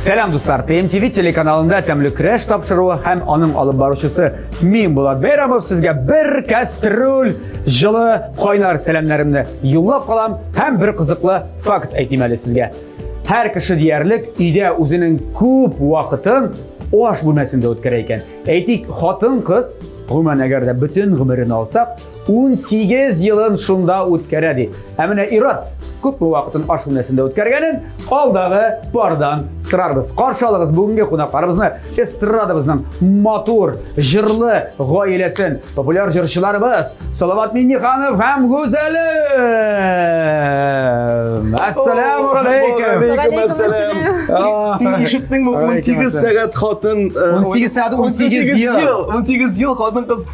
Сәлам дуслар! ТМТВ телеканалында тәмле көрәш тапшыруы һәм аның алып баручысы мин Булат Бәйрамов сезгә бер кәстрүл җылы кайнар сәламнәремне юллап калам һәм бер кызыклы факт әйтим әле сезгә. Һәр кеше диярлек өйдә үзенең күп вакытын аш бүлмәсендә үткәрә икән. Әйтик, хатын-кыз, гомумән әгәр дә бөтен гомерен алсак, 18 елын шунда үткәрә ди. Ә менә Ират күпме вакытын аш бүлмәсендә үткәргәнен алдагы пардан сорарбыз. Каршы алыгыз бүгенге кунакларыбызны эстрадабызның матур, җырлы гаиләсен, популяр җырчыларыбыз Салават Минниханов һәм Гүзәле. Ассаламу алейкум. Ассалам. Син ишеттеңме 18 сәгать хатын 18 сәгать 18 ел 18 ел хатын кыз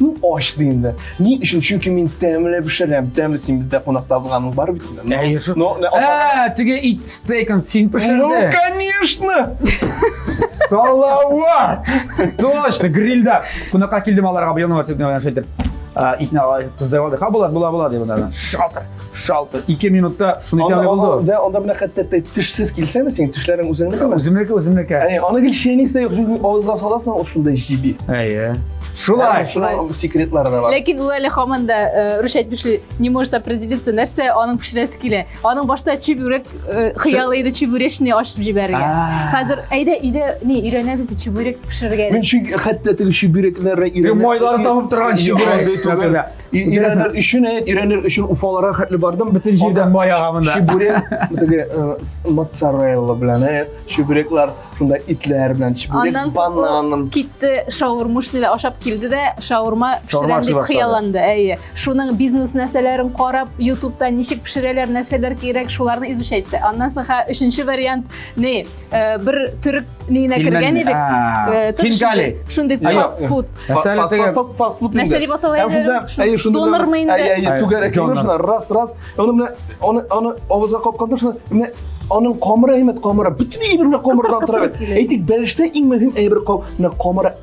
Ну, ачты инде. Ни өчен? Чөнки мин тәмле пешерәм. Тәмле син бездә кунакта булганың бар бит. инде. Әйе, шул. Ну, не- Ә, теге ит стейкын син Ну, пешерде. конечно! Салават! Точно, грильда. Кунакка килдем аларга быелның васыйбына шайтып. Итне кыздырып алдык. Ха, булат, була, була, дип анардан. Шатыр. шалты ике минутта шуны итә булды да анда менә хәтта тешсез килсәң дә синең тешләрең үзеңнекеме үземнеке үземнеке әйе аны гел чәйнис тә юк чөнки авызга саласың ул шундай җиби әйе шулай шулай секретлары да бар ләкин ул әле һаман да э, рушать пешли не может определиться нәрсә аның пешерәсе килә аның башта чебурек э, хыялы иде чебуречный ачып җибәрергә хәзер әйдә өйдә не өйрәнәбез ди чебурек пешерергә мин чөнки хәтта теге чебурекләрне майларын табып торган чебурек Ираннар өчен, ираннар өчен уфаларга хәтле бардым. Бөтен җирдән баяга монда. Чебурек, теге моцарелла белән, чебуреклар, шунда итләр белән чебурек с бананом. Китте шаурмушниле ашап килде дә, шаурма пешерәм дип хыялланды. Әйе. Шуның бизнес нәрсәләрен карап, YouTube-та ничек пешерәләр, нәрсәләр кирәк, шуларны изучать итте. Аннан соң ха, өченче вариант, не, э, бер төрек нигенә кергән идек. Э, Кингали. Шундый фастфуд. Фастфуд. Нәрсә дип атала иде? Шунда, әйе, шунда. Донормы инде? Әйе, әйе, түгәрәк шунда раз, раз. Аны менә аны аны авызга капканда шунда менә аның камыры әймәт камыры, бөтен әйберле камырдан тора бит. Әйтик, бәлештә иң мөһим әйбер камыры, камыры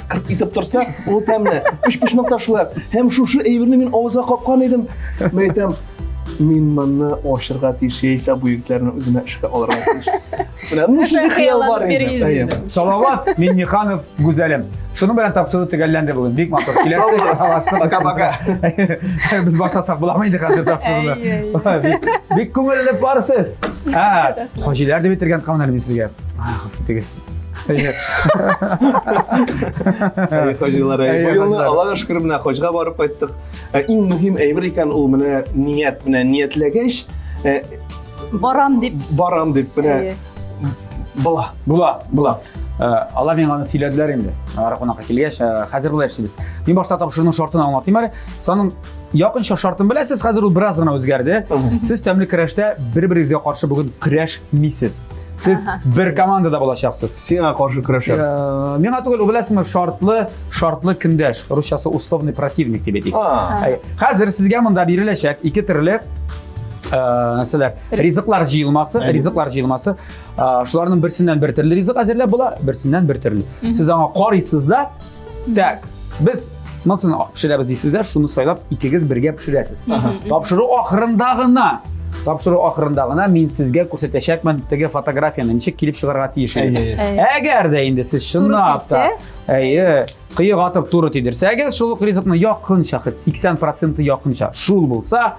кырт итеп торса, ул тәмле. Үч пешмәк ташлы. Һәм шушы әйберне мин авызга капкан идем. Мин әйтәм, мин моны ашырга тиеш, яисә бу егетләрне үземә эшкә алырга тиеш. Менә ну шундый хыял бар инде. Салават Минниханов Гүзәлем. Шуның белән тапшыру төгәлләнде бүген. Бик матур. Киләсе пока-пока. Без башласак буламы инде хәзер тапшыруны? Бик күңелле барсыз. Ә, хаҗилар дип бетергән калмады мин сезгә. Афитегез. Әйе. Әйе, хаҗилар, әйе. Бу елны Аллага шөкер менә хаҗга барып кайттык. Ә, иң мөһим әйбер икән ул менә ният менә ниятләгәч, ә, Барам дип. Барам дип менә. Була. Була, була. Э, алар миңа аны сөйләделәр инде ара кунакка килгәч э, хәзер болай эшлибез мин башта тапшыруның шартын аңлатыйм әле саның якынча шартын беләсез хәзер ул бераз гына үзгәрде сез тәмле көрәштә бер берегезгә каршы бүген көрәшмисез Сез бер командада булачаксыз. Сиңа каршы көрәшәбез. Э, миңа түгел, беләсеңме, шартлы, шартлы көндәш, русчасы условный противник дип әйтик. Хәзер сезгә монда биреләчәк ике төрле э, нәрсәләр ризыклар җыелмасы ризыклар җыелмасы э, шуларның берсеннән бер төрле ризык әзерләп була берсеннән бер төрле сез аңа карыйсыз да Так, без монысын пешерәбез дисезләр, шуны сайлап икегез бергә пешерәсез. Тапшыру ахырында гына тапшыру ахырында гына мин сезгә күрсәтәчәкмен теге фотографияны ничек килеп чыгарга тиеш иде. Әгәр дә инде сез чынлап та әйе кыек атып туры тидерсәгез, шул ук ризыкны якынча 80% якынча шул булса,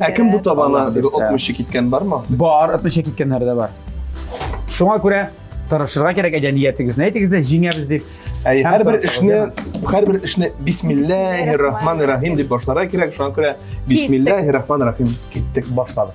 Ә кем бу табана Аллаһ бирсә. отмычы киткән бармы? Бар, отмыча киткәннәре дә бар. Шуңа күрә тырышырга кирәк әйдә ниятегезне әйтегез дә җиңәбез дип. Әй, Һәм һәрбер тырышырга эшне, кирәк. һәрбер эшне бисмиллаһи рахмани рахим дип башларга кирәк. Шуңа күрә бисмиллаһи рахмани рахим киттек, башладык.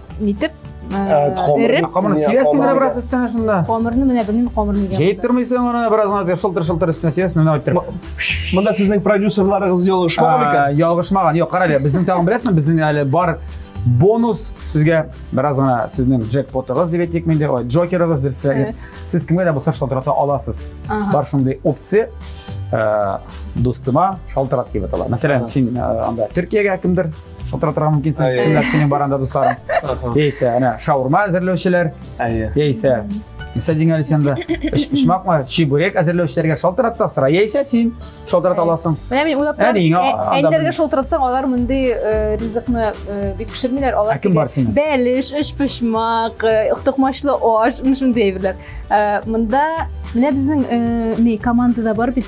нитеп эреп камырны сибәсең менә бераз өстенә шунда камырны менә белмим камыр нигә җәеп тормыйсың аны бераз гына шылтыр шылтыр өстенә сибәсең менә әйттереп монда сезнең продюсерларыгыз ялгышмаган икән ялгышмаган юк кара әле безнең тагын беләсеңме безнең әле бар бонус сезгә бераз гына сезнең джекпотыгыз дип әйтик менде ой джокерыгыз дөресрәге сез кемгә дә булса шалтырата аласыз бар шундый опция дустыма шалтырат дип атала мәсәлән син анда төркиягә кемдер отыра торган мөмкинсең Әйе. кемнәр синең бар анда дусларың яисә әнә шаурма әзерләүчеләр әйе яисә нәрсә дигән әле сен анда өчпочмакмы чебурек әзерләүчеләргә шалтыратта сора яисә син шалтырата аласың менә мин уйлап Әне, торам аңа- анда әниләргә мин- шалтыратсаң алар мондый э, ризыкны э, бик пешермиләр алар Ә кем бар синең? бәлеш өчпочмак э, токмачлы аш менә шундый әйберләр Э, монда менә безнең э, ни командада бар бит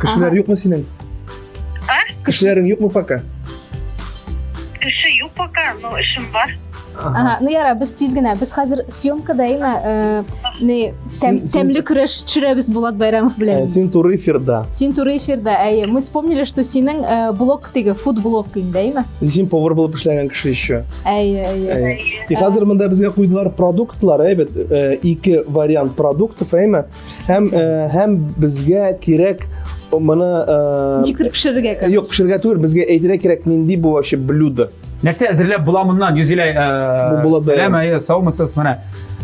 Кешеләр Ага. юкмы синең? А? Кешеләрең юкмы пока? Кеше юк пока, но эшем бар. Ага, ну яра, без тиз генә. Без хәзер съемкада имә э, не тәм, Син- син- тәмле көрәш төшерәбез Булат Байрамов Э, белән. Син туры эфирда. Син туры эфирда, әйе. Мы вспомнили, что синең э, блог теге фуд блог инде, әйме? Син повар булып эшләгән кеше еще. Әйе, әйе. Э, И хәзер монда безгә куйдылар продуктлар, әйбәт, э, ике вариант продуктов, әйме? Һәм э, һәм безгә кирәк моны э, Ничектер пешерергә кирәк. Юк, пешерергә түгел, безгә әйтергә кирәк нинди бу вообще блюдо. Нәрсә әзерләп була моннан? Юзилә, э, Бу сәлам, әйе, саумысыз, менә.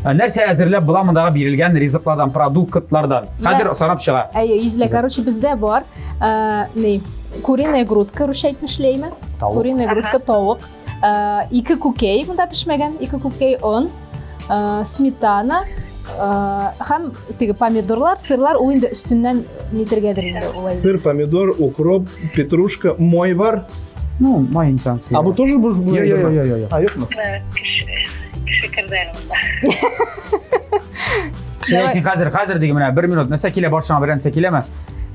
Э, нәрсә әзерләп була мондагы бирелгән ризыклардан, продуктлардан? Хәзер санап чыга. Әйе, Юзилә, короче, бездә бар. Э, ни? Куриная грудка, русча әйтмешли, әйме? Куриная грудка, тавык. Э, ике күкей монда пешмәгән ике күкей он э, сметана һәм э, теге помидорлар сырлар ул инде өстеннән нитергәдер инде улай сыр помидор укроп петрушка май бар ну май инсан а бу тоже бу я я я я а юкмы кеше керде әле хәзер хәзер диге менә бер минут нәрсә килә башыңа берәр нәрсә киләме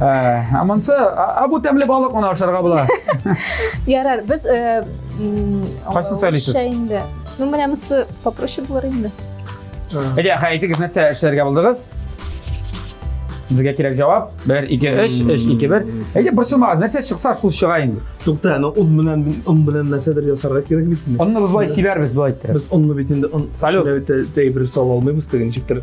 Ә, ә монсы, а, а бу тәмле балык моны ашарга була. Ярар, без э, м, Кайсын сөйлисез? аңлавымча инде. Ну, менә монысы попроще булыр инде. Әйдә, хәй, әйтегез, нәрсә эшләргә булдыгыз? Безгә кирәк җавап. 1 2 3 3 2 1. Әйдә, борчылмагыз, нәрсә чыкса шул чыга инде. Тукта, аны он белән мин он белән нәрсәдер ясарга кирәк бит инде. Онны без болай сибәрбез, болай иттереп. Без онны бит инде он Салют. шулай бит тә- тәй бер сала алмыйбыз теге ничектер.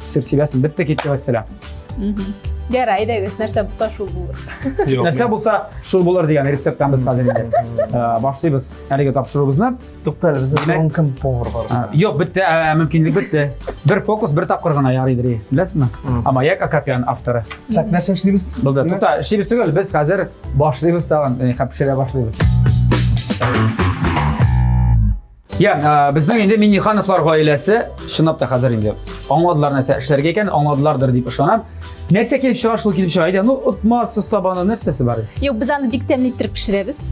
Сер сибәсен бетте китте мәсәлә. Ярай, әйдәгез, нәрсә булса шул булыр. Нәрсә булса шул булыр дигән рецепттан без хәзер инде э, башлыйбыз әлеге тапшыруыбызны. Тукта әле бездә Димәк- кем повар бар. Э, Юк, бетте, ә, мөмкинлек бетте. Бер фокус, бер тапкыр гына ярыйдыр. Беләсезме? А маяк Акопян авторы. Так, нәрсә эшлибез? Булды. Тукта, эшлибез түгел, без хәзер башлыйбыз тагын, э, һәм пешерә башлыйбыз. Я, ә, безнең инде Миннихановлар гаиләсе чынлап та хәзер инде аңладылар нәрсә эшләргә икән, аңладылардыр дип ышанам. Нәрсә килеп чыга, шул килеп чыга. Әйдә, ну, отма, сыз табаны нәрсәсе бар? Юк, без аны бик тәмле иттереп пешерәбез.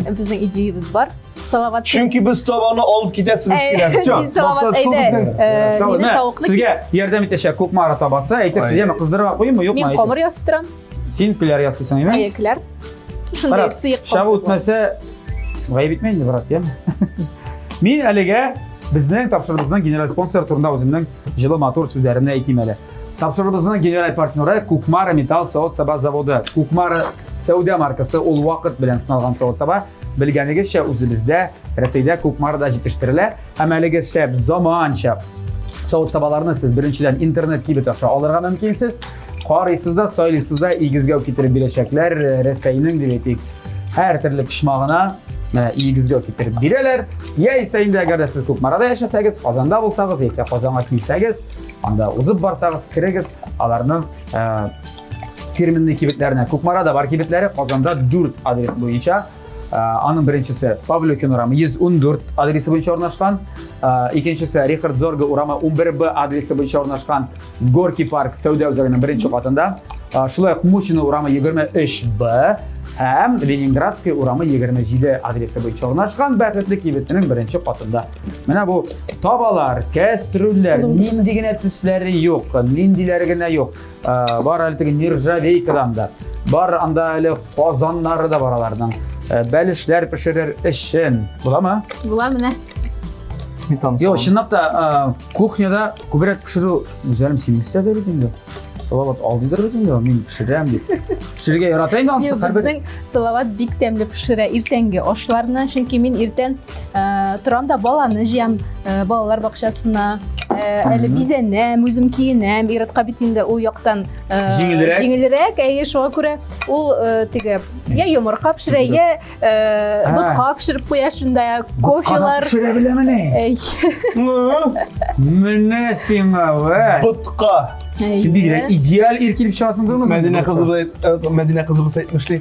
Безнең идеябез бар. Салават. Чөнки без табаны алып китәсебез килә. Всё. Салават, әйдә. Сезгә ярдәм итәчәк Кукмара табасы. Әйтерсез, яме кыздырырга куймы, юкмы? Мин камыр ястырам. Син пиләр ясыйсың, әйме? Әйе, пиләр. Шундай сыек кап. Шабу үтмәсә, гаеп итмә инде, брат, яме. Мин әлегә безнең тапшырыбызның генераль спонсоры турында үземнең җылы матур сүзләремне әйтим әле. Тапшырыбызның генераль партнеры Кукмара металл савыт-саба заводы. Кукмара сәүдә маркасы ул вакыт белән сыналган савыт-саба. Белгәнегезчә, үзебездә, Рәсәйдә күп марда җитештерелә, һәм әлеге шәп, заманча савыт-сабаларны сез беренчедән интернет кибет аша алырга мөмкинсез. Карыйсыз да, сайлыйсыз да, игезгәү китереп бирәчәкләр, Рәсәйнең дип әйтик, һәр төрле почмагына менә игезгәү китереп бирәләр. Яисә инде әгәр дә сез Кукмарада яшәсәгез, Казанда булсагыз, яисә Казанга килсәгез, анда узып барсагыз, керегез, аларның фирменный кибетләренә кукмарада бар кибетләре казанда дүрт адрес буенча э, аның беренчесе павлюкин урамы 114 адресы буенча урнашкан э, икенчесе рихард зорга урамы 11 б адресы буенча урнашкан горки парк сәүдә үзәгенең беренче катында э, шулай ук мусина урамы 23 б һәм ленинградский урамы 27 адресы буенча урнашкан бәхетле кибетнең беренче катында менә бу табалар кәстрүлләр нинди генә төсләре юк ниндиләре генә юк Э, бар әле теге нержавейкадан да бар анда әле казаннары да бар аларның э, бәлешләр пешерер өчен буламы була менә сметана жоқ чынлап та э, кухняда күбрәк пешеру гүзәлем синең истәдә бит инде салават алдыйдыр бит инде мин пешерәм дип пешерергә ярата инде анысы һәрбер салават бик тәмле пешерә иртәнге ашларны чөнки мин иртән Э, торам да баланы җыям э, балалар бакчасына э, әле бизәнәм үзем киенәм иратка бит инде ул яктан җиңелрәк җиңелрәк әйе шуңа күрә ул теге я йомырка пешерә я ботка пешереп куя шунда кофелар пешерә беләмени менә сиңа ботка син бигрәк идеаль ир килеп чыгасың дурмы мәдинә кызыбыз мәдинә кызыбыз әйтмешли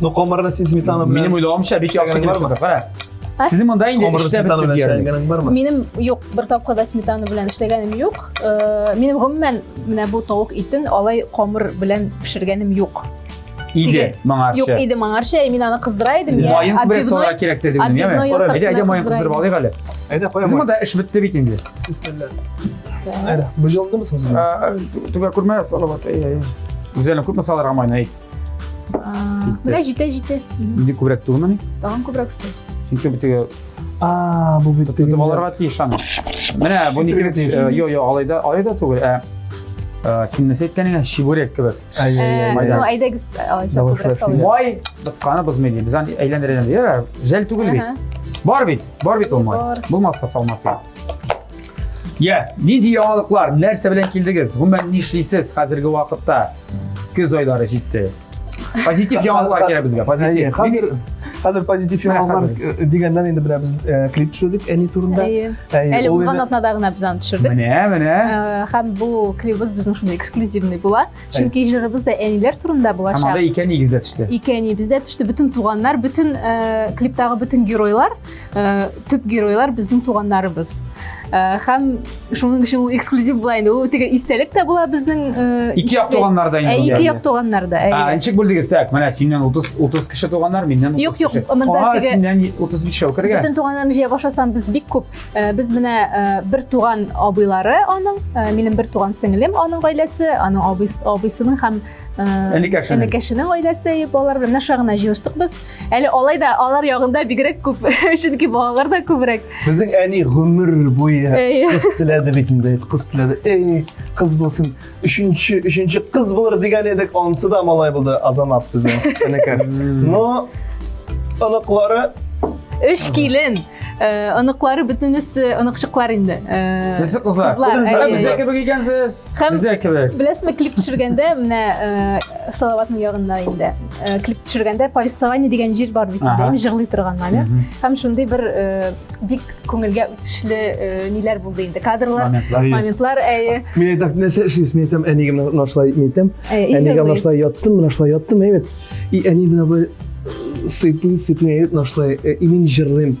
Ну, қомырны сен сметана белән. Минем уйлавымча бик яхшы килеп чыкты. Кара. Сезнең монда инде эштә бетте диярлек. Бармы? Минем юк, бер тапкыр да сметана белән эшләгәнем юк. Э, минем гомумән менә бу тавык итен алай камыр белән пешергәнем юк. Иде моңарча. Юк, иде моңарча. Мин аны кыздыра идем. Майын бер сора кирәк диде минем, яме. Әйдә, әйдә майын кыздырып алыйк әле. Әйдә, куям. Сез монда эш бетте бит инде. Әйдә, бу җылдымы сез? Түгә күрмә, салават. Әйдә. Үзәлен күпме салырга майны әйт. Менә җитә, җитә. Инде күбрәк түгелмени? Тагын күбрәк шул. Чөнки бу теге А, бу бит теге. Аларга тиеш аны. Менә бу нике бит. Йо, йо, алайда, алайда түгел, ә э, син нәрсә әйткәнеңә чебурек кебек. Э, ну, әйдәгез, алайса. Май тотканы бозмый ди. Без аны әйләндерәбез. Йә, жәл түгел бит. Бар бит, бар бит ул май. Булмаса салмасы. Я, нинди яңалыклар, нәрсә белән килдегез? Гомумән нишлисез хәзерге вакытта? Көз айлары җитте. Позитив яңалыклар кирәк безгә, позитив. Хәзер Хәзер позитив яңалыклар э, дигәннән инде менә без э, клип төшердек әни турында. Әле узган атнада гына без аны төшердек. Менә, менә. Э, һәм бу клибыбыз безнең шундый эксклюзивный була. Чөнки җырыбыз да әниләр турында булачак. Һәм анда ике әниегез дә төште. Ике әниебез дә төште. Бөтен туганнар, бөтен э, клиптагы бөтен геройлар, э, төп геройлар безнең туганнарыбыз. Э, һәм шуның өчен ул эксклюзив була инде. Ул теге истәлек тә була безнең э, Ике як туганнарда инде. Ә, ике як туганнарда. Ә, ничек бүлдегез? Так, менә синнән 30 30 кеше туганнар, миннән 30 кеше. Юк, юк, монда теге. Синнән 35 шәүкергә. Бөтен туганнарны җыя башласам, без бик күп Э, без менә э, бер туган абыйлары аның э, минем бер туган сеңлем аның гаиләсе аның абыйсының һәм энекәшенең гаиләсе балалар белән наша гына җыелыштык без әле алай да алар ягында бигрәк күп чөнки балалар да күбрәк безнең әни гомер буе кыз теләде бит инде кыз теләде эй кыз булсын Өченче, өченче кыз булыр дигән идек, ансы да малай булды, Азамат безнең энекәр. Но оныклары Өч килен. Э, Оныклары бөтенесе оныкчыклар инде. Э, Безсе кызлар. Кызлар, Ә, әйе. Бездә кебек икәнсез. Һәм- Бездә кебек. Беләсезме, клип төшергәндә менә э, Салаватның ягында инде. э, Клип төшергәндә повествование дигән җир бар бит инде, Ага. җырлый торган номер. Һәм шундый бер э, бик күңелгә үтешле э, ниләр булды инде кадрлар моментлар, моментлар әйе мин әйтәм нәрсә эшлибез мин әйтәм әнигә менә шулай мин әйтәм әнигә менә шулай яттым менә шулай яттым әйбәт и әни менә былай э, сыйпый сыйпый әйбәт менә шулай э, и мин җырлыйм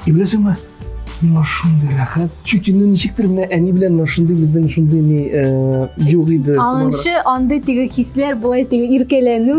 и беләсеңме миңа шундый рәхәт чөнки ну ничектер менә әни белән менә шундый безнең шундый ни юк иде аңчы андый теге хисләр болай теге иркәләнү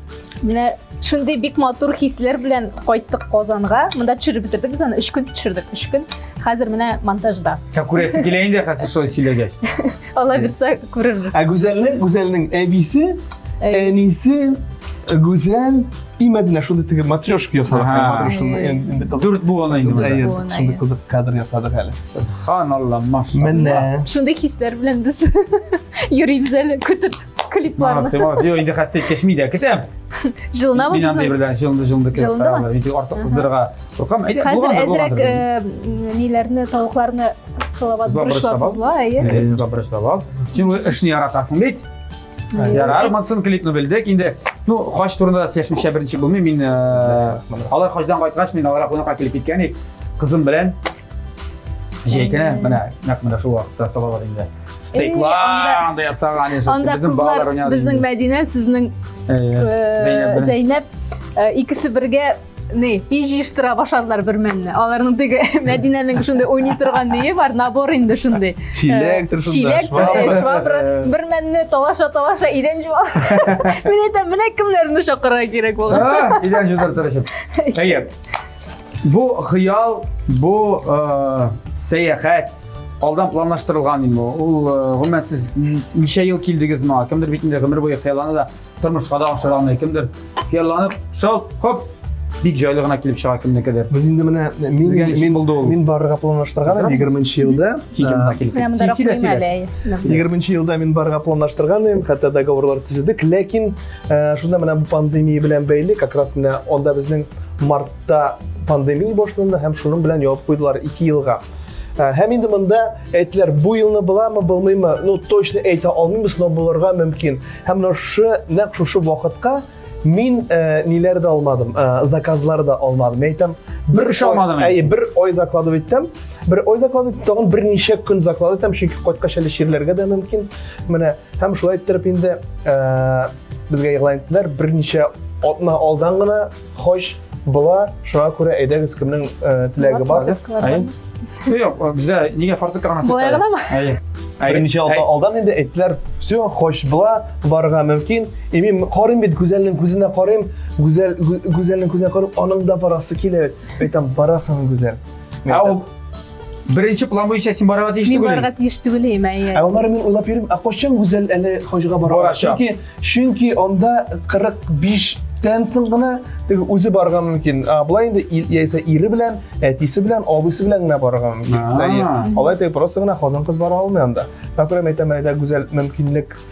Менә шундый бик матур хисләр белән кайттык Казанга. Монда төшереп бетердек без аны 3 көн төшердек, 3 көн. Хәзер менә монтажда. Ә күрәсе килә инде хәзер шулай сөйләгәч. Алла бирсә күрербез. Ә Гүзәлнең, Гүзәлнең әбисе, әнисе Гүзәл и Мәдинә шундый теге матрешка ясадык. Матрешканы Дүрт буын инде. Әйе, шундый кызык кадр ясадык әле. Субханалла, машалла. Менә. Шундый хисләр белән без йөрибез әле көтеп. клипларны. Молодцы, молодцы. Юк, инде хәсет кешми дә кесәм. Җылынабыз. Мин андый берлән җылынды, җылынды кесәм. Җылынды ма? Инде артык кыздырга. Куркам, әйдә, булган. Хәзер әзрәк э, ниләрне, тавыкларны салават бурышлап узла, әйе. Э, Зла бурышлап ал. Чөнки эшне яратасың бит. Ярар, Мансун клипны белдек. Инде, ну, хач турында сөйләшмичә беренче булмый. Мин э, алар хачдан кайткач, мин аларга кунакка килеп киткән идек. Кызым белән Җәйкә менә нәкъ менә шул вакытта салалар инде. Стейклар анда ясаган яшәтте. Анда кызлар безнең Мәдинә, сезнең Зәйнәп икесе бергә не и җыештыра башладылар бер мәлне аларның теге мәдинәнең шундый уйный торган нее бар набор инде шундый чилектер чилек швабра бер мәлне талаша талаша идән жуа мен әйтәм менә кемнәрне чакырырга кирәк булган идән жуып торачак әйе Бу хыял, бу э, сәяхәт, алдан планлаштырылган инде ул э, гомумән сез ничә ел килдегез моңа кемдер бит инде гомер буе хыяллана да тормышка да ашыра алмый кемдер хыялланып шалт хоп бик җайлы гына килеп чыга кемнекедер без инде менә мин мин булды ул мин барырга планлаштырган идем егерменче елда егерменче елда мин барырга планлаштырган идем хәтта договорлар төзедек ләкин Ә, шунда менә бу пандемия белән бәйле, как раз менә анда безнең мартта пандемия башланды һәм шуның белән ябып куйдылар 2 елга. Ә, һәм инде монда әйтеләр, бу елны буламы, булмыймы, ну точно әйтә алмыйбыз, но булырга мөмкин. Һәм менә шушы нәкъ шушы вакытка мин ә, ниләр дә алмадым, ә, заказлар да алмадым. Әйтәм, бер эш алмадым. Әй, бер ой заклады иттем. Бер ой заклады, тагын берничә көн заклады иттем, чөнки кайткач әле чирләргә дә мөмкин. Менә Һәм шулай иттереп инде безгә игълан иттеләр, берничә атна алдан гына хаҗ була, шуңа күрә әйдәгез кемнең теләге бар. Юк, бездә нигә фартук гына саталар? Болай гынамы? Әйе. Берничә алда, алдан инде әйттеләр, все, хош була, барырга мөмкин. И мин карыйм бит Гүзәлнең күзенә карыйм, Гүзәл Гүзәлнең күзенә карыйм, аның да барасы килә бит. Әйтәм, барасың Гүзәл. Ә ул Беренче план буенча син барырга тиеш Мин түгел. барырга тиеш түгел инде, әйе. Ә аннары мин уйлап йөрим, ә кайчан Гүзәл әле хаҗга бара? Барачак. Чөнки чөнки анда 45 тән соң гына теге үзе барырга мөмкин. А болай инде ил- яисә ире белән, әтисе белән, абыйсы белән генә барырга мөмкин. А. Әйе. Алай теге просто гына хатын-кыз бара алмый анда. Мәкрәм әйтәм әле дә Гүзәл мөмкинлек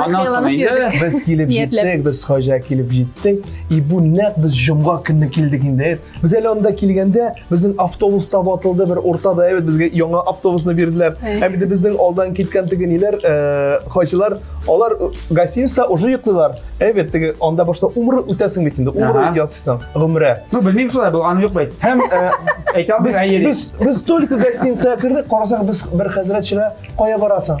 Аннан соң инде без килеп җиттек, без хаҗа килеп җиттек. И бу нәкъ без җомга көнне килдек инде. Без әле анда килгәндә безнең автобус та ватылды, бер уртада әйбәт безгә яңа автобусны бирделәр. Һәм инде безнең алдан киткән теге ниләр, э, хаҗилар, алар гостиниста уже йоклыйлар. Әйбәт теге анда башта умры үтәсең бит инде. Умры ясыйсың, гомрә. Ну, белмим шулай бу, аны юк бит. Һәм э, әйтәм без без только гостиница кирдек, карасак без бер хәзрәт чыга. Кая барасың?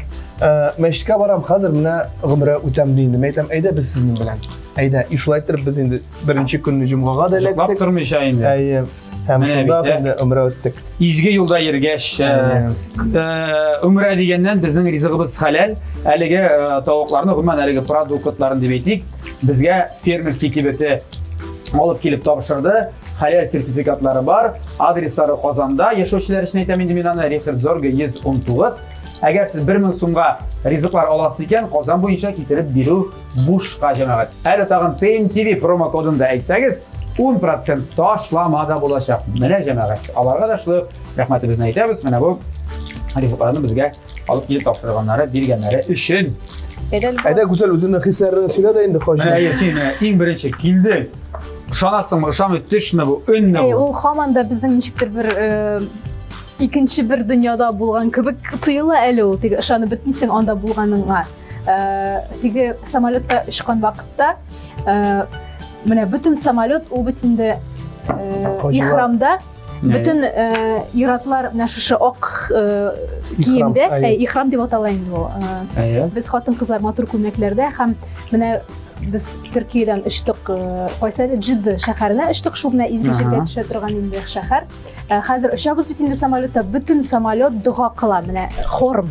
Мәчеткә барам, хәзер менә гомрә үтәм ди инде. Мәйтәм, әйдә без сезнең белән. Әйдә, и шулай итеп без инде беренче көнне җомгага да эләктек. Җоклап тормыйча инде. Әйе. Һәм шунда инде гомрә үттек. Изге юлда йөргәч, гомрә дигәннән безнең ризыгыбыз хәләл. Әлеге тавыкларны, гомумән әлеге продуктларын дип әйтик, безгә фермерский кибете алып килеп тапшырды. Хәләл сертификатлары бар, адреслары Казанда яшәүчеләр өчен әйтәм инде мин аны, Рихард Зорге 119. Әгәр сез 1000 сумга ризыклар аласыз икән, Казан буенча китереп бирү бушка җәмәгать. Әле тагын PMTV промокодын да әйтсәгез, 10% ташлама да булачак. Менә җәмәгать. Аларга да шулай рәхмәтебезне әйтәбез. Менә бу ризыкларны безгә Алып килеп тапшырганнары, биргәннәре өчен. Әйдә, Гүзәл, үзеңнең хисләреңне сөйлә дә инде, хаҗи. Менә әйе, син менә иң беренче килдең. Ышанасыңмы, ышанмый, төшме бу, өнме Әй, бу? ул һаман да безнең ничектер бер э, икенче бер дөньяда булган кебек тоела әле ул. Теге ышанып бетмисең анда булганыңа. Э, теге самолетта очкан вакытта э, менә бөтен самолет ул бит инде э, Хаҗилар. ихрамда Бөтен э, иратлар менә шушы ак э, киемдә, э, ихрам дип атала инде ул. Э, без хатын-кызлар матур күлмәкләрдә һәм менә без Төркиядән очтык, э, кайсы әле Җидды шәһәренә очтык, шул менә изге җиргә төшә торган инде шәһәр. Э, хәзер очабыз бит инде самолетта, бөтен самолет дога кыла, менә хорм.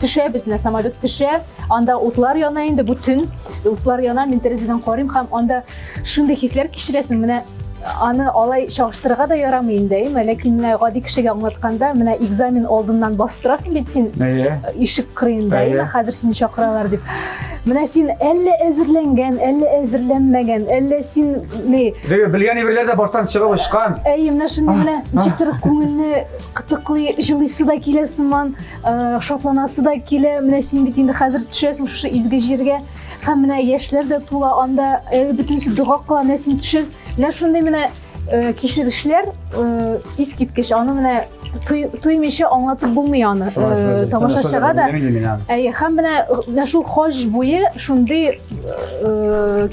төшә безне самолет төшә анда утлар яна инде бу төн утлар яна мин тәрәзәдән карыйм һәм анда шундый хисләр кичерәсең менә аны алай чагыштырырга да ярамый инде әйеме ләкин менә гади кешегә аңлатканда менә экзамен алдыннан басып торасың бит син ишек кырыенда әйеме хәзер сине чакыралар дип менә син әллә әзерләнгән әллә әзерләнмәгән әллә син ни белгән әйберләр дә баштан чыгып очкан әйе менә шундый менә ничектер күңелне кытыклый җылыйсы да килә сыман Э, шатланасы да килә менә син бит инде хәзер төшәсең шушы изге җиргә һәм менә яшьләр дә тула анда э, бөтенесе дога кыла менә син төшәсең менә шундый менә э, кичерешләр искиткеч аны менә тоймыйча аңлатып булмый аны тамашачыга да әйе һәм менә менә шул хаҗ буе шундый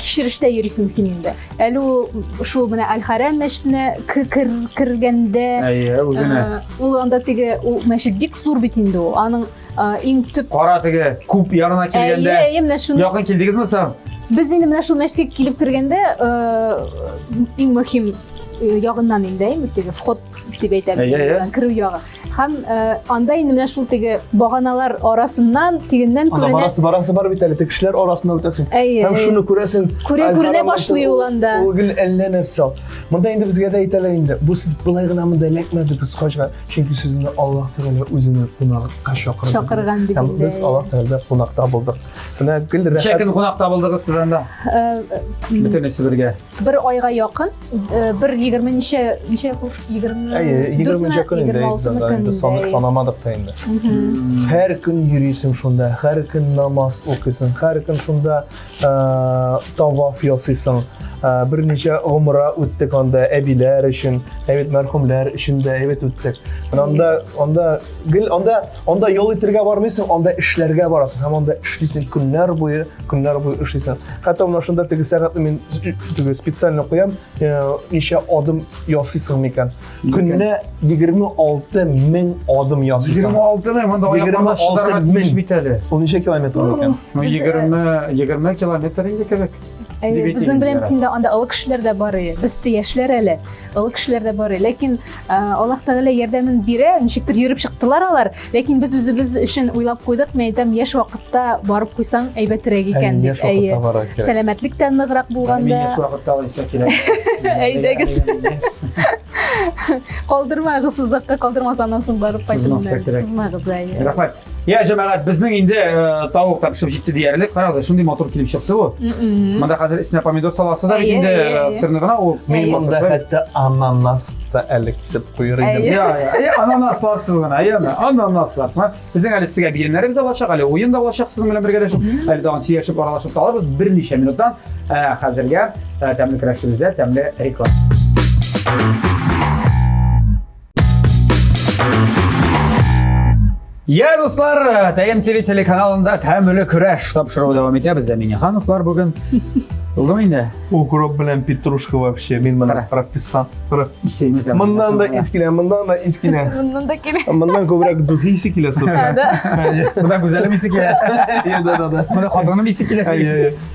кичерештә йөрисең син инде әле ул шул менә әл хәрәм мәчетенә кергәндә әйе үзенә Ул анда теге ул мәчет бик зур бит инде ул. Аның иң төп Кара теге күп ярына килгәндә. Әйе, әйе, менә шуны. Якын килдегезме соң? Без инде менә шул мәчеткә килеп кергәндә иң мөһим ягыннан инде әйме теге вход дип әйтәбез керү ягы һәм анда инде менә шул теге баганалар арасыннан тегеннән күренә барасы барасы бар бит әле теге кешеләр арасында үтәсең һәм шуны күрәсең күрә күренә башлый ул анда ул гел әллә нәрсә Монда инде безгә дә әйтәләр инде, бу сез былай гына монда эләкмәдегез хаҗга, чөнки сезне Аллаһ Тәгалә үзенең кунакка чакырды. Чакырган дип инде. Без Аллаһ Тәгалә кунакта булдык. Менә гел рәхәт. Ничә көн кунакта булдыгыз сез анда? Э, Бөтенесе бергә. Бер айга якын, э, бер 20 ничә ничә куш 20. Әйе, 20 ничә көн инде. 26 көн инде. Санап санамадык та инде. Һәр көн йөрисең шунда, һәр көн намаз укыйсың, һәр көн шунда Таваф ясыйсың, берничә гомра үттек анда әбиләр өчен, әйбәт мәрхүмнәр өчен дә әйбәт үттек. Менә анда анда гел анда анда ял итәргә бармыйсың, анда эшләргә барасың һәм анда эшлисең көннәр буе, көннәр буе эшлисең. Хәтта менә шунда теге сәгатьне мин теге специально куям, ничә адым ясыйсың микән? Көнне 26 мең адым ясыйсың. 26 мең, монда аякларда шыдарга тиеш бит әле. Ул ничә километр булыр икән? Ну 20 20 э, километр инде кебек. Безнең белән киндә анда олы кешеләр дә бар иде. Без тә яшьләр әле. Олы кешеләр дә бар иде. Ләкин э, Аллаһ Тәгалә ярдәмен бирә, ничектер йөреп чыктылар алар. Ләкин без үзебез өчен уйлап куйдык, мин әйтәм, яшь вакытта барып куйсаң әйбәтерәк икән дип. Яшь вакытта барырга кирәк. Сәламәтлек тә ныграк булганда. Мин яшь вакытта алайса кирәк. Әйдәгез. Калдырмагыз озакка калдырмас аннан соң барып кайтыңыз. Сызмагыз әйе. Рәхмәт. Я җәмәгать, безнең инде э, тавык та пешеп җитте диярлек. Карагыз, шундый матур килеп чыкты бу. Монда хәзер исенә помидор саласы да инде э, сырны гына ул. Монда хәтта ананас та әлек Сеп куер идем. Әйе. Я, я, я, ананасларсыз гына, әйеме? Ананасларсыз гына. Безнең әле сезгә биремнәребез алачак, әле уен да алачак сезнең белән бергәләшеп. Әле тагын сөйләшеп, аралашып калабыз берничә минуттан. Ә, Хәзергә ә, тәмле көрәшебездә тәмле реклама. Я, дуслар, Тәем ТВ телеканалында тәмле көрәш тапшыруы дәвам итә. Бездә Минехановлар бүген. Булдымы инде? Укроп белән петрушка вообще. Мин моны прописал. Исеме дә. Моннан да ис килә, моннан да ис килә. Моннан да килә. Моннан күбрәк духи исе килә, собственно. Да. Монда гүзәлем исе килә. Да, да, да. Монда хатыным исе килә.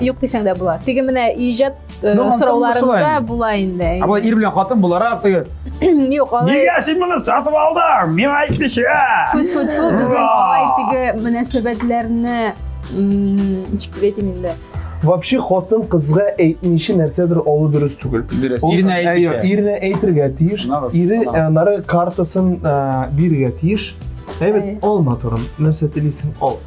Юк дисәң дә була. Теге менә иҗат э, Ну, ансамбль солай сорауларында инде. була инде. Ә болай ир белән хатын буларак теге. Юк, алай. Нигә син моны сатып алдың? Миңа әйтмичә. Тьфу-тьфу-тьфу, безнең Ура! алай теге мөнәсәбәтләрне м, ничек дип әйтим инде. Вообще хатын кызга әйтмичә нәрсәдер алу дөрес түгел. Дөрес. Ул- Иренә Ә, юк, әйтмичә. Иренә әйтергә тиеш. Нагыз, Ире нагыз. ә, нары картасын ә, бирергә тиеш. Әйбәт, Әйе. алма турым. Нәрсә телисең, ал.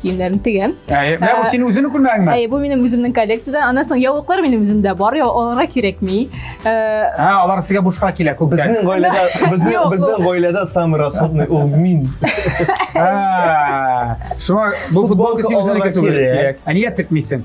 киемнәрен тегәм. Әйе, менә бу синең үзеңнең күлмәгеңме? Әйе, бу минем үземнең коллекциядән. Аннан соң яулыклар минем үземдә бар, я аларга кирәкми. Ә алар сезгә бушка килә күп. Безнең гаиләдә, безнең безнең гаиләдә самый расходный ул мин. Шуңа бу футболка синең үзеңнеке түгел. Ә нигә текмисең?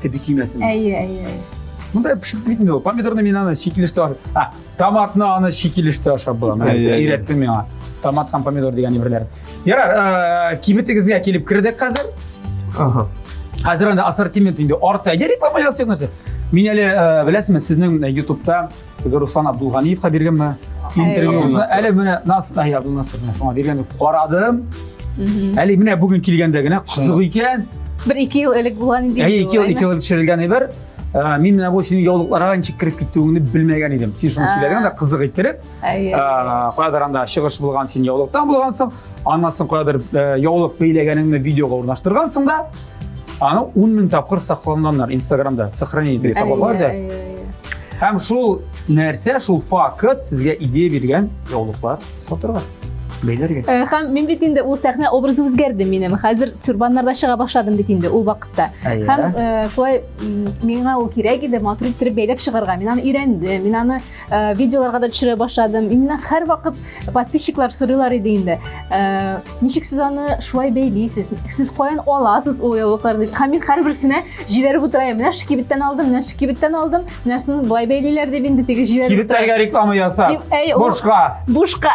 Теби кимәсен. Әйе, әйе, әйе. Мындай пешеп бит инде. Помидорны мин аны чикилештә ашап. А, томатны аны чикилештә ашап була. Менә Әйе, әйе. өйрәттең миңа. Томат һәм помидор дигән әйберләр. Ярар, э, кибетегезгә килеп кердек хәзер. Ага. Хәзер анда ассортимент инде арта. Йә реклама ясыйк нәрсә. Мин әле э, беләсезме, сезнең ютубта теге руслан абдулганиевка биргәнме интервьюны әле менә настай абдулнасырны шуңа биргәнне карадым әле менә бүген килгәндә генә кызык икән бер ике ел элек булган инде әйе ике ел ике ел төшерелгән әйбер ә, мин менә бу синең яулыкларга ничек кереп китүеңне белмәгән идем син шуны сөйләгән дә кызык иттереп каядыр анда чыгыш булган син яулыктан булгансың аннан соң каядыр яулык бәйләгәнеңне видеога урнаштыргансың да аны ун мең тапкыр сакланганнар инстаграмда сохранение итеп саклап бар да һәм шул нәрсә шул факт сезгә идея биргән яулыклар сатырга бәйләргә э, һәм мин бит инде ул сәхнә образы үзгәрде минем хәзер тюрбаннарда чыга башладым бит инде ул вакытта һәм э, шулай миңа ул кирәк иде матур иттереп бәйләп чыгарга мин аны өйрәндем мин аны Э, видеоларга да төшерә башладым именно һәр вакыт подписчиклар сорыйлар иде инде э, ничек сез аны шулай бәйлисез сез каян аласыз ул яулыкларны дип һәм мин һәрберсенә җибәреп утыра идем менә шкибеттән алдым менә шкибеттән алдым менәсен болай бәйлиләр дип инде теге җибәреп кибетләргә реклама ясап бушка бушка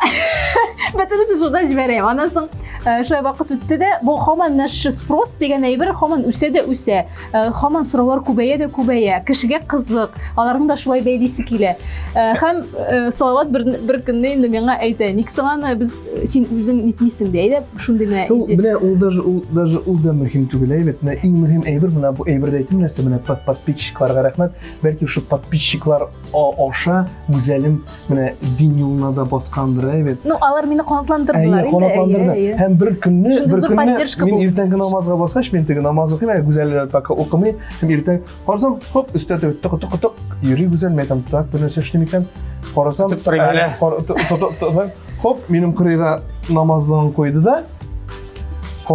бөтенесе шунда җибәрәм аннан соң э, шулай вакыт үтте дә бу һаман наш спрос дигән әйбер һаман үсә дә үсә Э, хаман сораулар күбәя дә күбәя кешегә кызык аларны да шулай бәйлисе килә һәм э, э, салават бер, бер көнне инде миңа әйтә ник соң аны без син үзең нитмисең дә әйдә шундый генә идея менә ул даже ул даже ул да мөһим түгел әйбәт менә иң мөһим әйбер менә бу әйбердә әйтим нәрсә менә подписчикларга рәхмәт бәлки шул подписчиклар аша гүзәлем менә дин юлына да баскандыр ә бит ну алар мине канатландырдылар әйе канатландырды һәм бер көнне бер көнне мин иртәнге намазга баскач мен теге намаз укыйм әле гүзәлләр пока укымый һәм иртән карасам хоп өстә теге тык тык тык йөри гүзәл мен айтам так бер нәрсә эшлим икән карасам тотып торыйм әле хоп минем кырыйга намазлыгын куйды да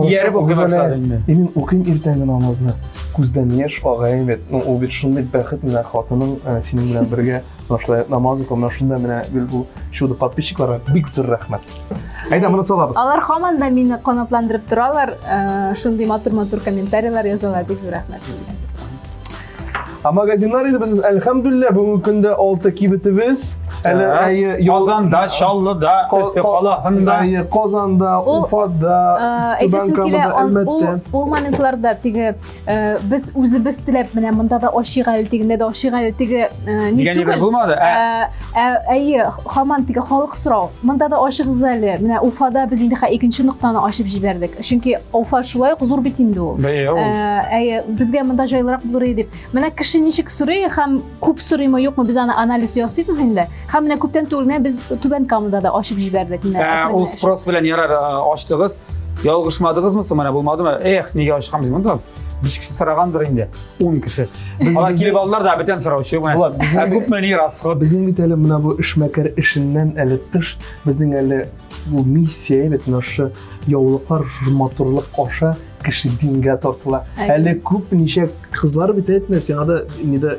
ияреп укый башлады инде мин укыйм иртәнге намазны күздән яшь ага бит ну ул бит шундый бәхет менә хатының синең белән бергә Менә шулай намазы кылып, менә шунда менә гел бу чудо подписчикларга бик зур рәхмәт. Әйдә, моны салабыз. Алар һаман да мине канатландырып торалар, э, шундый матур-матур комментарийлар язалар, бик зур рәхмәт сезгә. Ә магазиннар инде без әлхәмдүлиллә бүгенге көндә алты кибетебез. Әле Ә, әйе, ял- Казанда, Чаллыда, Ка- Өфе ка- калаһында. әйе, Казанда, Ул, Уфада, Э, Түбән Әйтәсем килә, Камада, ан- ул, Әлмәттә. ул моментларда теге Э, без үзебез теләп менә монда да ашыйк әле тегендә дә ашыйк әле теге э, ни түгел булмады ә? Э, әйе хаман теге халык сорау монда да ашыгыз әле менә уфада без инде икенче ноктаны ачып җибәрдек чөнки уфа шулай ук зур бит инде ул әйе безгә монда җайлырак булыр иде дип менә кеше ничек сорый һәм күп сорыймы юкмы без аны анализ ясыйбыз инде һәм менә күптән түгел менә без түбән камада да ачып җибәрдек менә ә, ул спрос белән ярар ачтыгыз ялгышмадыгызмы соң менә булмадымы эх нигә ачканбыз монда биш кеше сорагандыр инде он кеше ана килеп алдылар да бүтән сораучы ә күпме ни расход безнең бит әле менә бу эшмәкәр эшеннән әле тыш безнең әле бу миссия бит мына яулыклар шушы матурлык аша кеше дингә тартыла әле күп ничә кызлар бит әйтмә сиңа да инде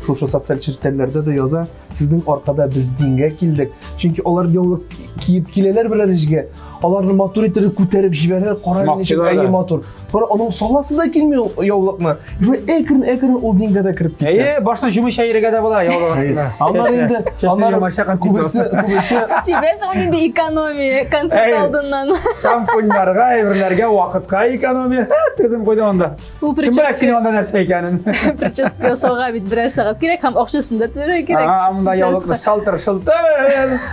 шушы социаль челтәрләрдә дә яза сезнең аркада без дингә килдек чөнки алар яулык киеп киләләр берәр эшкә аларны матур иттереп күтәреп җибәрәләр кара ничек әйе матур бер аның саласы да килми яулыкны Шулай әкрен әкрен ул дингә дә кереп китә. Әйе, башына җумыч әйрегә дә була яулык астына. Аннар инде, аннар күбесе, күбесе. Тибез ул инде экономия концерт алдыннан. Шампуньларга, әйберләргә вакытка экономия. Тезем куйды анда. Бу прическа. Кем синең анда нәрсә икәнен? Прическа ясауга бит берәр сәгать кирәк һәм акчасын да түләргә кирәк. Анда яулык шалтыр-шылтыр.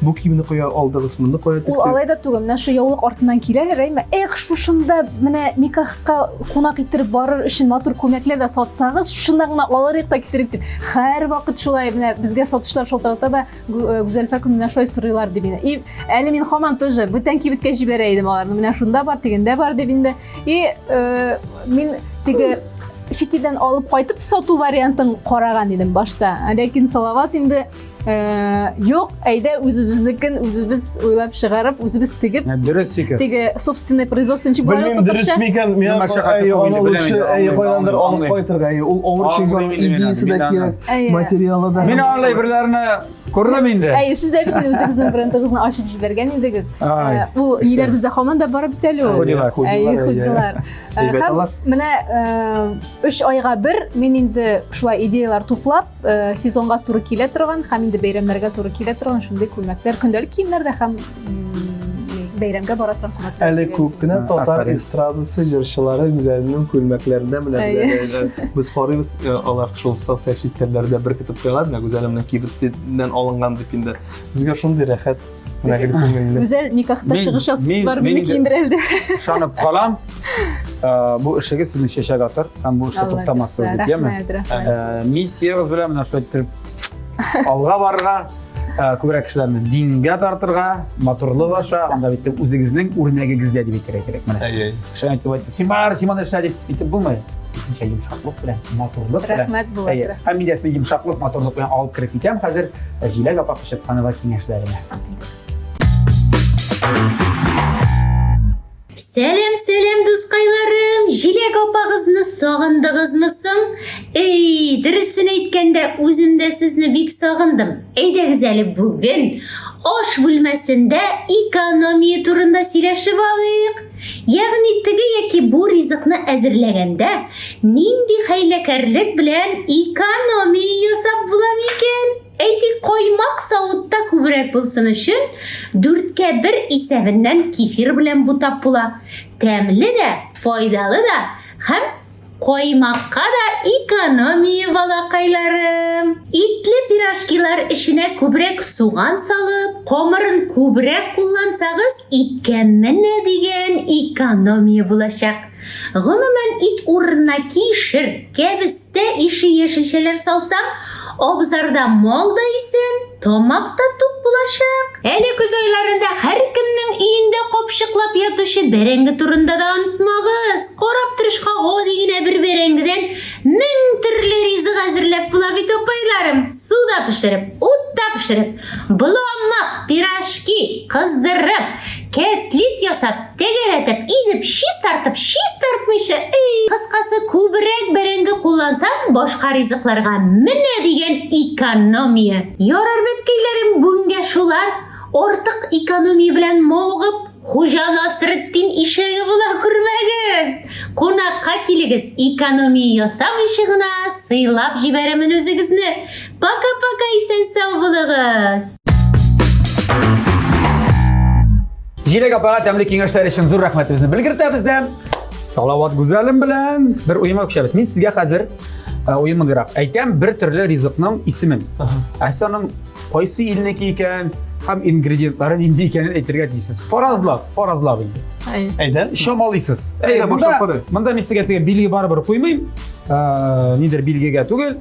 Бу киемне кая алдыгыз, моны кая тектек? Ул алай да түгел, менә шу яулык артыннан килә, Рәймә, эх, шушында менә никахка кунак иттереп барыр өчен матур күмәкләр дә сатсагыз, шушында гына алырык та китерик дип. Һәр вакыт шулай менә безгә сатышлар шалтырата да э, Гүзәлфә көн менә шулай сорыйлар дип инде. И әле мин хаман тоже бүтән кибеткә җибәрә идем аларны. Менә шунда бар, дигәндә бар дип инде. И э, мин теге шикидән алып кайтып сату вариантын караган идем башта. Ләкин Салават инде Э, юк әйдә үзебезнекен үзебез уйлап чыгарып үзебез тегеп э, дөрес фикер теге собственный производство ничек була белмим дөрес микән мен аны лучше әйе кайдандыр алып кайтырга әйе ул авыр чиген идеясы да кирәк материалы да мин аңлай берләрне күрдем инде әйе сез дә бит үзегезнең брендыгызны ачып җибәргән идегез э, ул ниләр бездә һаман да бар бит әле ул худилар әйе худилар һәм менә өч айга бер мин инде шулай идеялар туплап Э, сезонга туры килә торган һәм инде бәйрәмнәргә туры килә торган шундый күлмәкләр көндәлек киемнәр дә һәм бәйрәмгә бара торган күлмәкләр әле күп кенә татар эстрадасы җырчылары үзләренең күлмәкләрендә менә без карыйбыз э, алар шул социаль челтәрләрдә беркетеп куялар менә гүзәлемнең кибетеннән алынган дип инде безгә шундый рәхәт Менә гел күңелле. Гүзәл никахта Мин- чыгыш ясыйсы мин- бар, мин мине дә- киендерә әле. Ышанып калам. Ә, Бу эшегез сезне чәчәк атыр һәм бу эштә Алла туктамассыз бирсә, дип, яме? Рәхмәт, рәхмәт. Ә, Миссиягез белән менә шулай иттереп алга барырга, ә, күбрәк кешеләрне дингә тартырга, матурлык аша, анда бит үзегезнең үрнәгегездә дип әйтергә кирәк менә. Әй-әй. Шулай итеп Симар, Симон Шәриф итеп булмый. Кисенчә йомшаклык белән, матурлык белән. Рәхмәт, Булат, Әйе, рәхмәт. Фамилиясен йомшаклык, матурлык белән алып кереп китәм хәзер Җиләк апа Кочетханова киңәшләренә. Сәлем, сәлем, дускайларым! Җиләк апагызны сагындыгызмы соң? Эй, дөресен әйткәндә, үзем дә сезне бик сагындым. Әйдәгез әле бүген аш бүлмәсендә экономия турында сөйләшеп алыйк. Ягъни теге яки бу ризыкны әзерләгәндә нинди хәйләкәрлек белән экономия ясап була микән? Әйтик, каймак савытта күбрәк булсын өчен, дүрткә бер исәбеннән кефир белән бутап була. Тәмле дә, файдалы да һәм Коймакка да экономия балакайларым. Итле пирожкилар эченә күбрәк суган салып, комырын күбрәк куллансагыз, иткә менә дигән экономия булачак. Гомумән, ит урынына кишер, кәбестә ише яшелчәләр салсаң, абзарда мал да исән, Тамак та тук булачак. Әле көз айларында һәркемнең өендә капчыклап ятучы бәрәңге турында да онытмагыз. Корап тырышка гади генә бер бәрәңгедән мең төрле ризык әзерләп була бит апайларым. Суда пешереп, утта пешереп, боламык, пирожки, кыздырып, Кәтлит ясап, тәгәрәтеп, изеп, чистартып, чистартмыйча, эй! Кыскасы, күбрәк бәрәңге куллансаң, башка ризыкларга менә дигән экономия. Ярар бит, көйләрем, бүгенгә шулар. Артык экономия белән мавыгып, Хуҗа Насретдин ишәге була күрмәгез. Кунакка килегез, экономия ясамыйча гына сыйлап җибәрәмен үзегезне. Пока-пока исән сау булыгыз! Җиләк апага тәмле киңәшләр өчен зур рәхмәтебезне белгертәбез дә. Салават Гүзәлем белән бер уема күчәбез. Мин сезгә хәзер э, уемыграк әйтәм бер төрле ризыкның исемен. Ә сез аның кайсы илнеке икән һәм ингредиентлары нинди икәнен әйтергә тиешсез. Фаразлап, фаразлап инде. Әйдә. Чамалыйсыз. Әйдә, Әйдә, монда, башлап карыйк. монда мин сезгә теге билге барыбер куймыйм. Э, Нидер билгегә түгел.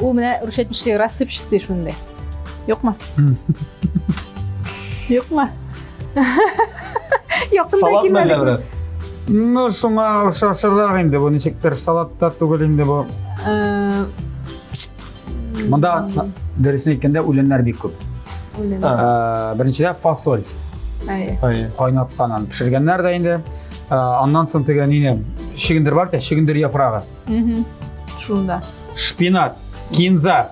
Ул менә рушетничек рассыпчатый шундый. Юкмы? Юкмы? Якында Салат мәллә кимәлек. берәр? Ну, шуңа охшашырак инде бу ничектер салат та түгел инде бу. Э, Монда дөресен әйткәндә үләннәр бик күп. үлем. А. Ә, Беренчедә фасоль Әйе. Ай. кайнатканын пешергәннәр дә инде. Ә, Аннан соң теге нине чигендер бар тә, чигендер яфрагы. Мхм. Шунда. Шпинат, кинза.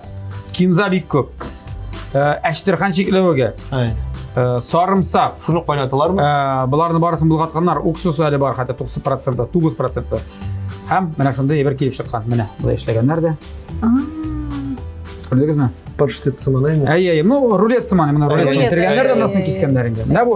Кинза бик көп. Ә, Әчтерхан чикләвеге, Әй. ә, сарымсак, Шуны кайнаталармы? Ә, Боларны барысын булгатканнар. Уксус әле бар, хәтта 90 проценты, 9 проценты. Һәм менә шундый әйбер килеп чыккан. Менә, болай эшләгәннәр дә. Күрдегезме? Паштет сыманаймы? Әй, әй, ну, рулет сыманы, менә рулет Рулет, сыманы. Тергәннәр дә әй, монысын әй, кискәннәр инде. Менә бу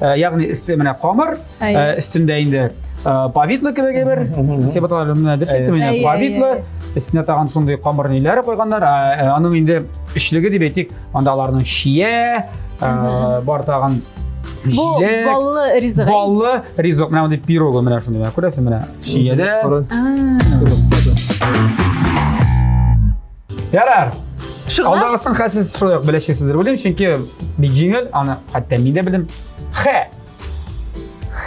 Э, ягъни өсте менә камыр э, өстендә инде э, повидло кебек бер сеп аталар менә дөрес әйттем инде повидло өстенә тагын шундый камыр ниләр куйганнар аның инде өчлеге дип әйтик анда аларның чия бар тагын бу баллы ризык баллы ризык менә мондый пирогы менә шундый күрәсең менә чиядә Ярар. Шыгла. Алдагысын хәсез шулай ук беләчәксездер уйлыйм, чөнки бик җиңел, аны хәтта мин дә белдем. Хэ.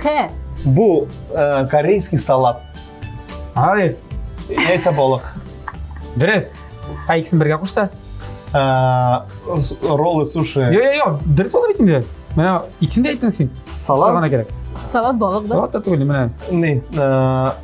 Хэ. Бу э, корейский салат. Алиф. Яйса балык. Дөрес. Ә икесен бергә кушта. Э, с- роллы, суши. Йо-йо-йо, дөрес булды бит инде. Менә икесен дә әйттең син. Салат. Шугана кирәк. Салат балык да. Салат та түгел, менә. Не, э,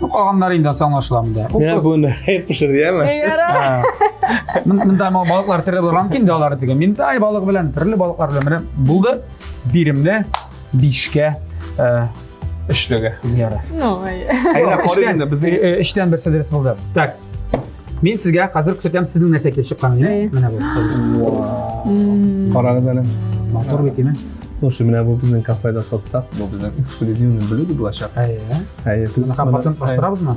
Ну, калганнары инде ансаң аңлашыла монда. Менә бу нәһәй пешерде, яме? Ярар. Монда ма балыклар төрле булган мөмкин дә алар диген. Мин тай балык белән, төрле балыклар белән менә булды. Биремне бишкә э, өчлеге. Ярар. Ну, ай. Әйдә, карыйк инде, безнең... Өчтән берсе дөрес булды. Так, Мин сезгә хәзер күрсәтәм сезнең нәрсә килеп чыкканын. Әйе. Менә бу. Карагыз әле. Матур бит име? Слушай, менә бу безнең кафеда сатсак, бу безнең эксклюзивный блюдо булачак. Әйе. Әйе, без Мына компотын бастырабызмы?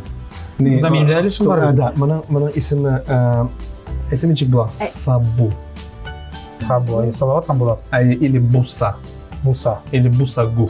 Не, Бунда минем дә өлешем бар. Да, моның моның исеме э, әйтем ничек була? Ә- Сабу. Сабу, әйе. Салават там була. Әйе, или буса. Буса. Или бусагу.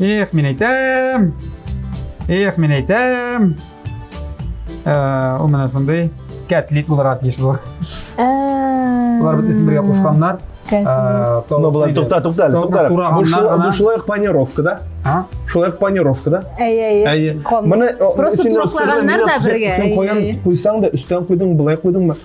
Эх, мин әйтәм. Эх, мин әйтәм. Э, ул менә шундый кәтлит булырга тиеш бу. Булар бит исем бергә кушканнар. Ну, булар тукта, тукта, әле, тукта. Бу шулай планировка да? А? Шулай планировка да? Әй, әй, әй. Моны просто тураклаганнар да бергә. Сен куйган, куйсаң да, өстән куйдың, былай куйдыңмы?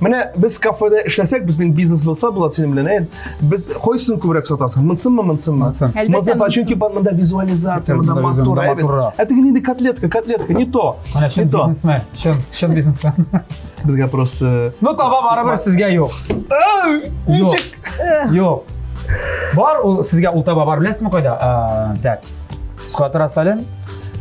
Менә без кафеда эшләсәк, безнең бизнес булса, Булат, синең белән, әйт, без кайсысын күбрәк сатасың? Монсынмы, монсынмы? Монсын. Әлбәттә, Монсын, монсын. чөнки бар монда визуализация, монда Монда матур, монда әйбәт. матуррак. Ә теге нинди котлетка, котлетка, не то, Менә не чын то. бизнесмен, чын, чын бизнесмен. Безгә просто... Ну, таба барыбер сезгә юк. Ау! Юк. Ничек? Юк. Бар, ул, сезгә ул таба бар, беләсезме кайда? Ә, Так. Скватора Салем,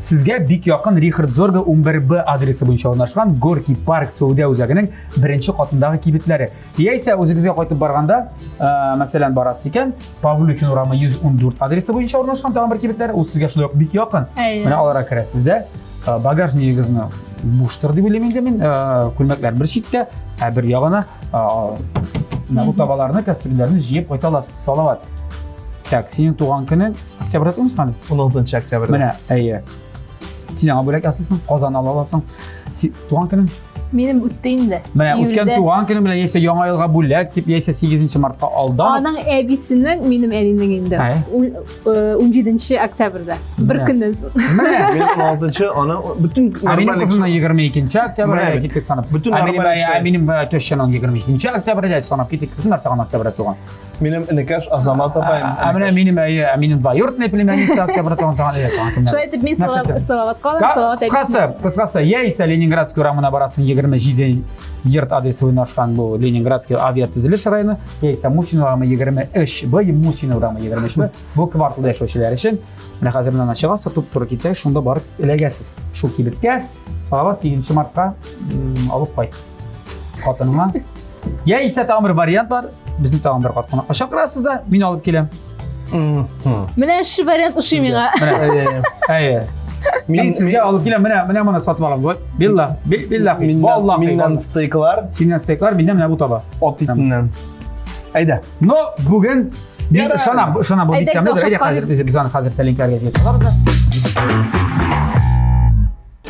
Сезгә бик якын Рихард Зорга 11Б адресы буенча урнашкан Горький парк сәүдә үзәгенең беренче катындагы кибетләре. Яисә үзегезгә кайтып барганда, ә, мәсәлән, барасыз икән, Павлюхин урамы 114 адресы буенча урнашкан тагын бер кибетләр, ул сезгә шулай ук бик якын. Менә аларга керәсез дә, багажнигыгызны буштыр дип уйлыйм инде мин, күлмәкләр бер читтә, ә бер ягына табаларны, кәстрүлләрне җыеп кайта аласыз. Салават. Так, синең туган көнең Октябрьдә тумыйсың әле? 16 октябрьдә. Менә, әйе. Син аңа бүләк ясыйсың, Казан ала аласың. Син туган көнең? Минем үтте инде. Менә үткән туган көнең белән яисә яңа елга бүләк дип, яисә 8 мартка алдан. Аның әбисенең, минем әнинең инде. 17 октябрьдә. Бер көннән соң. Менә минем 6 аны бөтен Минем кызымның 22 октябрьдә киттек санап. Бөтен Минем тещаның 22 октябрьдә санап киттек. Кем артыган октябрьдә туган? Минем энекәш Азамат апаем. Ә менә минем әйе, ә минем двоюродный племянница октябрь тагын тагын әйе. Шулай итеп мин Салават калам, Салават әйтсен. Кыскасы, кыскасы, яисә Ленинградский урамына барасың 27 йорт адресы уйнашкан бу Ленинградский авиатөзелеш районы, яисә Мусин урамы 23 Б, Мусин урамы 23 Б. Бу кварталда яшәүчеләр өчен менә хәзер моннан чыгасыз, туп туры китсәгез, шунда барып эләгәсез. Шул кибеткә Салават 7 мартка алып кайт. хатыныңа яисә тагын бер вариант бар безне тагын бер картханага чакырасыз да мин алып киләм менә эшче вариант ошый миңа әйе мин сезгә алып киләм менә менә моны сатып алам вот билла билла валлахи миннән стейклар синнән стейклар миннән менә бу таба от итеннән әйдә но бүген мин ышанам ышанам бу бик тәмле әйдә хәзер без аны хәзер тәлинкәләргә җыеп алабыз да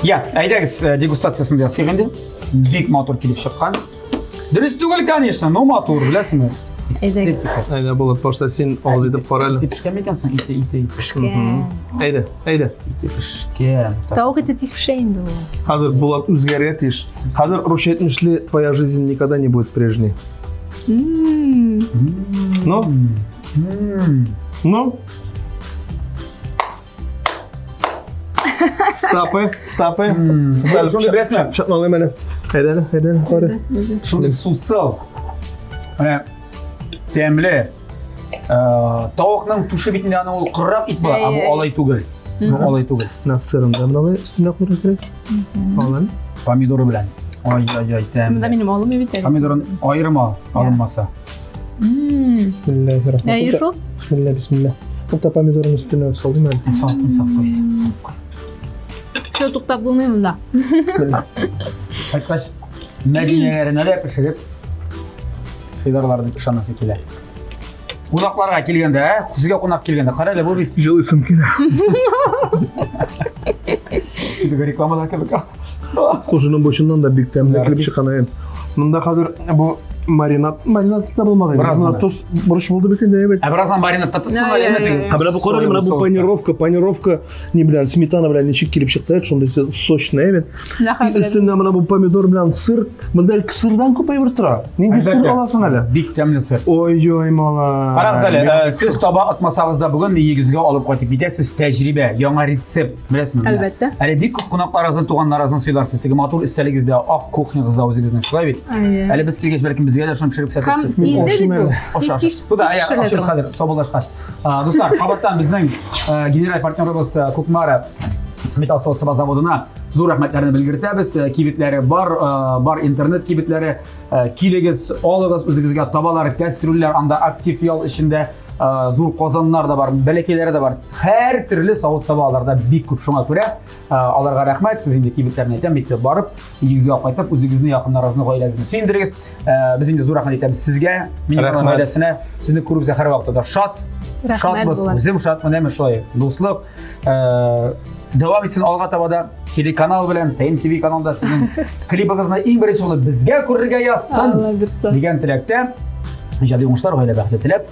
иә әйдәгіз э, дегустациясын да ясыйк инде бик матур килеп шыққан дөрес түгел конечно но матур беләсеңме әйдәгез әйдә болот башта сен авыз итеп кара әле ите пешкәнме икәнсең ите ите пешкән әйдә әйдә ите пешкән тауык ите тиз пешә инде ул хәзер болот үзгәрергә тиеш хәзер русча әйтмешли твоя жизнь никогда не будет прежней ну ну Стапы, стапы. Шуны беләсме? Чатмалый менә. Әйдәле, әйдәле, кары. Шуны сусау. Менә тәмле. Тавыкның тушы бит инде аны ул кыррак ит бар, бу алай түгел. Бу алай түгел. Насырын да менә өстенә куйырга кирәк. Алын. Помидоры белән. Ай, ай, ай, тәмле. Монда минем алым бит әле. Помидорын аерым ал, алынмаса. Әйе шул? Бисмилла, бисмилла. Ул та помидорның өстенә салдым әле. Салдым, салдым. Шо туктап булмый монда. Бисмилла. Кайткач, Мәдинәгә ренәлә пешереп сыйларлар дип ышанасы килә. Кунакларга килгәндә, ә? Сезгә кунак килгәндә, кара әле бу бит. Җылыйсым килә. Реклама да кебек. Кушының бочыннан да бик тәмле килеп чыккан әйен. Монда хәзер бу маринад, маринад та булмады. Бераз гына тоз бурыч булды бит инде, әйбәт. Ә бераздан маринадта тотсаң әле әйбәт инде. Ә менә бу карале, менә бу панировка, панировка ни белән, сметана белән ничек килеп чыкты, шундый сочный әйбәт. Өстендә менә бу помидор белән сыр. Монда әле сырдан күп әйбер тора. Нинди сыр аласың әле? Бик тәмле сыр. Ой-ой, мала. Карагыз әле, сез таба атмасагыз да бүген егезгә алып кайтып китәсез тәҗрибә, яңа рецепт. Беләсезме? Әлбәттә. Әле бик күп кунакларыгызны, туганнарыгызны сыйларсыз. Теге матур истәлегездә ак кухнягыз да үзегезнең, шулай бит? Әйе. Әле без килгәч, бәлкем безгә дә шуны пешереп Һәм күрсәтәсез. тиздә бит бу. Тиз Аша, тиз аша. Бу да тиз аяк пешерелә ашыгыз торган. хәзер, сабылдашкач. А, Дуслар, кабаттан безнең э, генераль партнерыбыз э, Кукмара металл соцсаба заводына зур рәхмәтләрне белгертәбез. Э, Кибетләре бар, э, бар интернет кибетләре. Э, Килегез, алыгыз үзегезгә табалар, кәстрүлләр, анда актив ял эчендә э, зур казаннар да бар, бәләкәйләре дә бар. һәр төрле савыт-саба аларда бик күп. Шуңа күрә аларга рәхмәт. Сез инде кибетләрне әйтәм, мәктәп барып, өйгә кайтып, үзегезне, якыннарыгызны, гаиләгезне сөендерегез. Без инде зур рәхмәт әйтәбез сезгә, минем гаиләсенә. Сезне күреп үзә һәр вакытта да шат. Шат булсын. Үзем шат, менә мен шулай. Дуслык. Дәвам итсен алга таба да телеканал белән, ТМТВ каналында сезнең клибыгызны иң беренче булып безгә күрергә язсын. Дигән теләктә. Иҗади уңышлар, гаилә бәхете теләп.